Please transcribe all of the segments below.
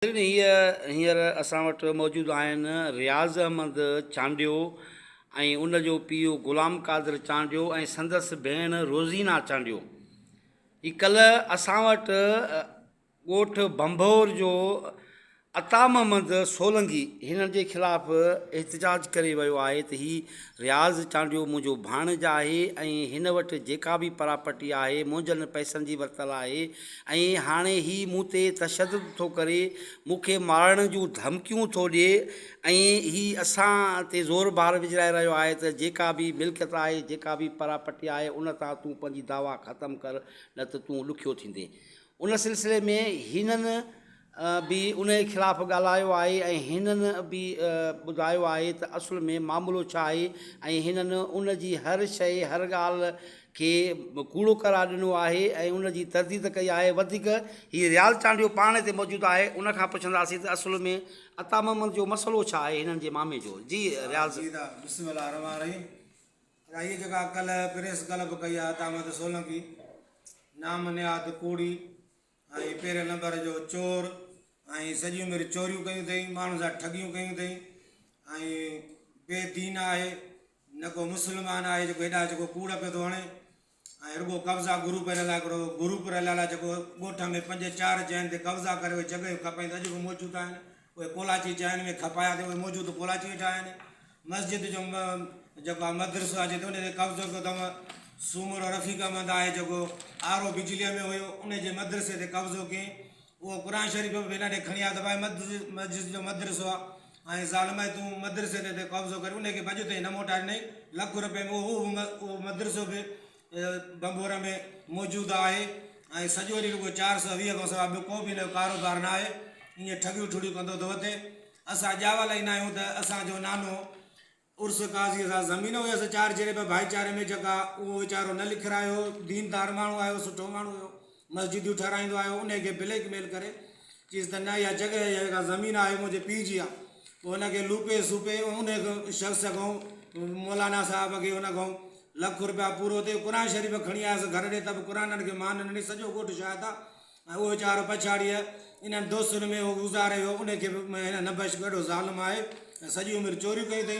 ناظرين هي هينئر اسان وٽ موجود آهن رياض احمد چانڊيو ۽ ان جو پيء غلام قادر چانڊيو ۽ سندس ڀيڻ روزينا چانڊيو هي ڪلهه اسان وٽ ڳوٺ ڀنڀور جو عطا محمد سولنگي هنن جي خلاف احتجاج ڪري ويو آهي ته هي رياض چانڊيو منهنجو ڀاڻيج آهي ۽ هن وٽ جيڪا به پراپرٽي آهي منهنجن پئسن جي ورتل آهي ۽ هاڻي هي مون تي تشدد ٿو ڪري، مون کي مارڻ جون ڌمڪيون ٿو ڏئي ۽ هي اسان تي زور بار وجهرائي رهيو آهي ته جيڪا به ملڪيت آهي، جيڪا به پراپرٽي آهي ان تان تون پنهنجي دعويٰ ختم ڪر نه ته تون ڏکيو ٿيندين. ان سلسلي ۾ هنن به انهيء خلاف ڳالهايو آهي ۽ هنن به ٻڌايو آهي ته اصل ۾ معاملو ڇا آهي ۽ هنن ان جي هر شيء، هر ڳالهه کي ڪوڙو قرار ڏنو آهي ۽ ان جي ترديد ڪئي آهي. وڌيڪ هي رياض چانڊيو پاڻ هتي موجود آهي، ان کان پڇنداسين ته اصل ۾ عطا محمد جو مسئلو ڇا آهي هنن جي مامي جو. جي رياض! جي عطا! بسم الله الرحمٰن الرحيم عطا هيء جيڪا ڪلهه پريس ڪلب ڪئي آهي عطا محمد سولنڪي نام نهاد ڪوڙي ۽ پهرين نمبر جو چور ۽ سڄي عمر چوريون ڪيون اٿئي ماڻهن سان ٺڳيون ڪيون اٿئي ۽ بي دين آهي نه ڪو مسلمان آهي جيڪو هيڏا جيڪو ڪوڙ پيو ٿو هڻي ۽ رڳو قبضا گرو پير لاء هڪڙو گرو پير لاء جيڪو ڳوٺ ۾ پنج چار جين تي قبضا ڪري جڳهيون کپائين ته اڄ به موجود آهن اهي ڪولاچي چانهن ۾ کپايا تي اهي موجود ڪولاچي ويٺا آهن مسجد جو جيڪو آهي مدرسو آهي جتي ان تي قبضو ڪيو اٿم سومرو رفيق احمد آهي جيڪو آر او بجليء ۾ هيو ان جي مدرسي تي قبضو ڪئين اهو قرآن شريف به هن ڏي کڻي آيا ته ڀائي مسجد جو مدرسو آهي ۽ ظالمي تون مدرسي تي تي قبضو ڪري ان کي به اڄ تائين نه موٽائي ڏنئي لک روپين ۾ اهو مدرسو به ڀنڀور ۾ موجود آهي ۽ سڄو ڏينهن رڳو چار سؤ ويهه کان سواء ٻيو ڪو به ان جو ڪاروبار نه آهي ائين ٺڳيون ٺڙيون ڪندو ٿو وتي اسان ڄاوا لائيندا آهيون ته اسان جو نانو عرس قاضيء سان زمين هيس چار چري ٻه ڀائيچاري ۾ جڳهه اهو ويچارو نه لکرايو ديندار ماڻهو آهي سٺو ماڻهو هيو مسجديون ٺهرائيندو آهي انهي کي بليڪ ميل ڪري چيس ته نه اها جڳهه يا جيڪا زمين آهي منهنجي پيء جي آهي پوء ان کي لوپي سوپي ان شخص کان مولانا صاحب کي ان کان لک روپيا پورو ٿئي قرآن شريف کڻي آيس گهر ڏي ته به قرآن ان کي مان ڏني سڄو ڳوٺ شاهد آهي ۽ اهو ويچارو پڇاڙيء انهن دوستن ۾ گذاري ويو ان کي به هن نبش ڏاڍو ظالم آهي ۽ سڄي عمر چوريون ڪيون اٿئي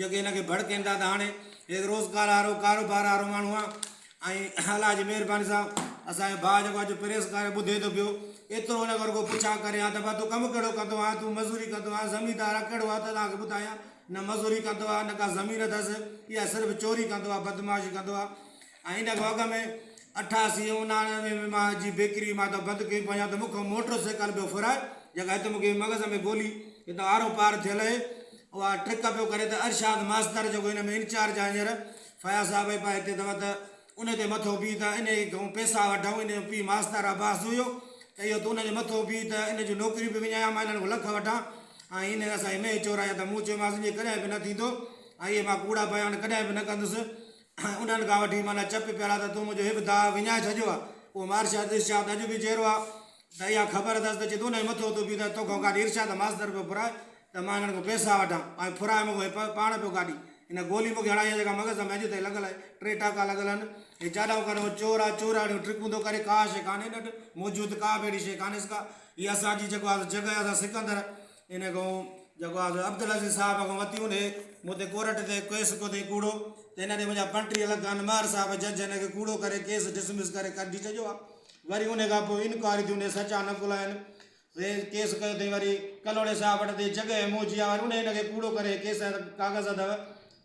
جيڪي هن کي ڀڙڪين ٿا ته هاڻي هڪ روزگار وارو ڪاروبار وارو ماڻهو آهي ۽ الله جي مهرباني سان اسان جو ڀاء جيڪو اڄ پريس ڪاري ٻڌي ٿو پيو ايترو هن کان رڳو پڇا ڪري ها ته ڀاء تون ڪم ڪهڙو ڪندو آهين تون مزوري ڪندو آهين زميندار آهين ڪهڙو آهي ته توهان کي ٻڌايان نه مزوري ڪندو آهي نه ڪا زمين اٿس يا صرف چوري ڪندو آهي بدمعاشي ڪندو آهي ۽ ان کان اڳ ۾ اٺاسي ۽ اناڻوي ۾ مان جي بيڪري مان ته بند ڪئي پنهنجا ته مون کان موٽر سائيڪل به ڦرائي جيڪا هت مون کي مغز ۾ گولي هتان آرو پار ٿيل اهي اها ٽرڪ پيو ڪري ته ارشاد ماستر جيڪو هن ۾ انچارج آهي هينئر فياض صاحب اهي پاهي هتي اٿو ته ان تي مٿو بيهه ته انهي کان پيسا وٺئون ان جو پيء ماستر عباس جويو ته اهو ته ان جي مٿو بيهه ته ان جون نوڪريون به وڃايان مان انهن کان لک وٺان ۽ انهن اسان جي مينهن چورائي ته مون چيومانس اهي ڪڏهن به نه ٿيندو ۽ اهي مان ڪوڙا بيان ڪڏهن به نه ڪندس انهن کان وٺي معنيٰ چپ پيرا ته تون منهنجو هڪ داء وڃائي ڇڏيو آ. پوء مارشا ارشد شاهه ته اڄ به جيئرو آ ته اها خبر اٿس ته جدو انهيء مٿو اٿو پيتس تو کان گاڏي ارشاد ماستر پيو ڦرائي ته مان انهن کان پئسا وٺان ۽ ڦرائي مون کان هي پاڻ پيو گاڏي هن گولي مون کي هڻائي آ جيڪا مغز ۾ اڄ تائين لڳل آهي ٽي ٽاڪا لڳل آهن هي جاڏائون ڪرڻ وارو چور آ چوراڻيون ٽرڪون ٿو ڪري ڪا شيء ڪانهي ڏٺ موجود ڪا به اهڙي شيء ڪانهيس ڪا هي اسان جي جيڪو آ سو جڳهه آ سا سڪندر ان کان جيڪو آء عبدالعزيز صاحب کان وتيون ڏي مون تي ڪورٽ تي ڪيس ڪيو اٿئي ڪوڙو ته ان ڏي منهنجا پنٽيهه لک ان ماهر صاحب جج ان کي ڪوڙو ڪري ڪيس ڊسمس ڪري ڪڍي ڇڏيو آ وري ان کان پوء انڪوائري ٿي ان جا سچا نقل آهن وي ڪيس ڪيو اٿئي وري ڪلهوڙي صاحب وٽ اٿئي جڳهه اموجي آ وري ان ان کي ڪوڙو ڪري ڪيس ڪاغذ اٿو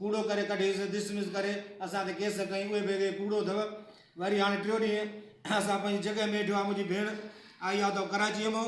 ڪوڙو ڪري ڪڍي ڊسمس ڪري اسان تي ڪيس ڪئي اهي به اٿئي ڪوڙو اٿو وري هاڻي ٽيو ڏينهن اسان پنهنجي جڳهه ميٺو آ منهنجي ڀيڻ آئي آ اٿو ڪراچيء مئو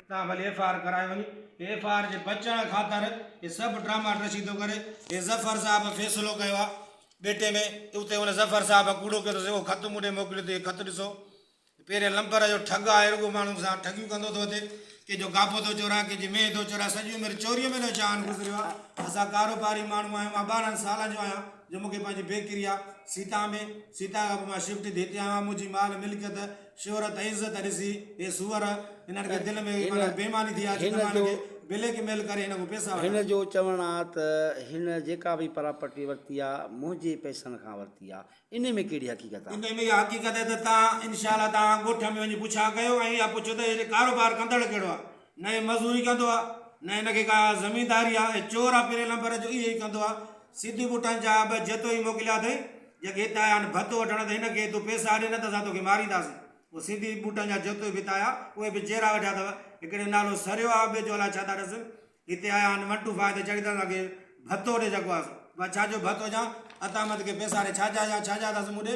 تان ڀلي ايف آء آر ڪرايو وڃي ايف آء آر جي بچڻ خاطر هي سڀ ڊراما ڊرشي ٿو ڪري هي ظفر صاحب فيصلو ڪيو آ ٻيٽي ۾ اتي هن ظفر صاحب ڪوڙو ڪيو اٿس اهو خط مون ڏي موڪليو ٿي هي خط ڏسو پهرين لمبر جو ٺڳ آهي رڳو ماڻهن سان ٺڳيون ڪندو ٿو اچي ڪي جو گاپو ٿو چورائي ڪي جي مينهن ٿو چورائي سڄي عمر چوريء ۾ ٿو جان گذريو آ اسان ڪاروباري ماڻهو آهيون مان ٻارهن سالن جو آهيان جو مون کي پنهنجي بيڪري آ سيتان ۾ سيتان کان پوء مان شفٽ ٿي هتي آيو آهيان منهنجي مال ملڪيت شهرت ۽ عزت ڏسي هي سوئر هنن کي دل ۾ معنيٰ بيماني ٿي آ جو هن جو بليڪ ميل ڪري هن کان پئسا وٺن. هن جو چوڻ آ ته هن جيڪا به پراپرٽي ورتي آ منهنجي پئسن کان ورتي آ انهي ۾ ڪهڙي حقيقت آ؟ انهي ۾ اها حقيقت آهي ته تان انشاء الله تان ڳوٺ ۾ وڃي پڇا ڪيو ۽ اها پڇو ته هي ڪاروبار ڪندڙ ڪهڙو آ نه هي مزوري ڪندو آ نه هن کي ڪا زمينداري آ هي چور آ پهرين لمبر جو اهي ئي ڪندو آ سڌو بوٽان جا ٻه جتوئي موڪليا اٿئي جيڪي هت آيا آهن ڀت وٺڻ ته هن کي تون پيسا ڏي نه ته اسان توکي مارينداسين هو سڌي بوٽن جا جتوئي به هت آيا اهي به جيرا ويٺا اٿو هڪڙي نالو سريو آ ٻئي جو الاء ڇا ٿا ڏسن هتي آيا آهن ون ٽو فائو تي چڙهي ته اسان کي ڀتو ڏي جيڪو آ سو ڀت ڇا جو ڀت هجان عطامت کي پيسا ڏي ڇا جا هجان ڇا جا اٿس مون ڏي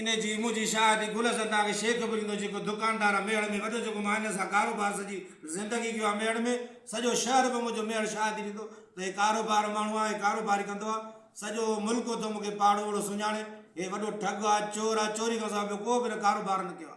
انهي جي منهنجي شاهدي گل حسن ڊاگهه شيخ به ڏيندو جيڪو دڪاندار آ ميهڙ ۾ وڏو جيڪو مان هن سان ڪاروبار سڄي زندگي ڪيو آ ميهڙ ۾ سڄو شهر به منهنجو ميهڙ شاهدي ڏيندو ته هي ڪاروبار ماڻهو آ هي ڪاروباري ڪندو آ سڄو ملڪ اٿو مون کي پاڙهو اهڙو سڃاڻي هي وڏو ٺڳ آ چور آ چوري کان سواء ٻيو ڪو به هن ڪاروبار نه ڪيو آ.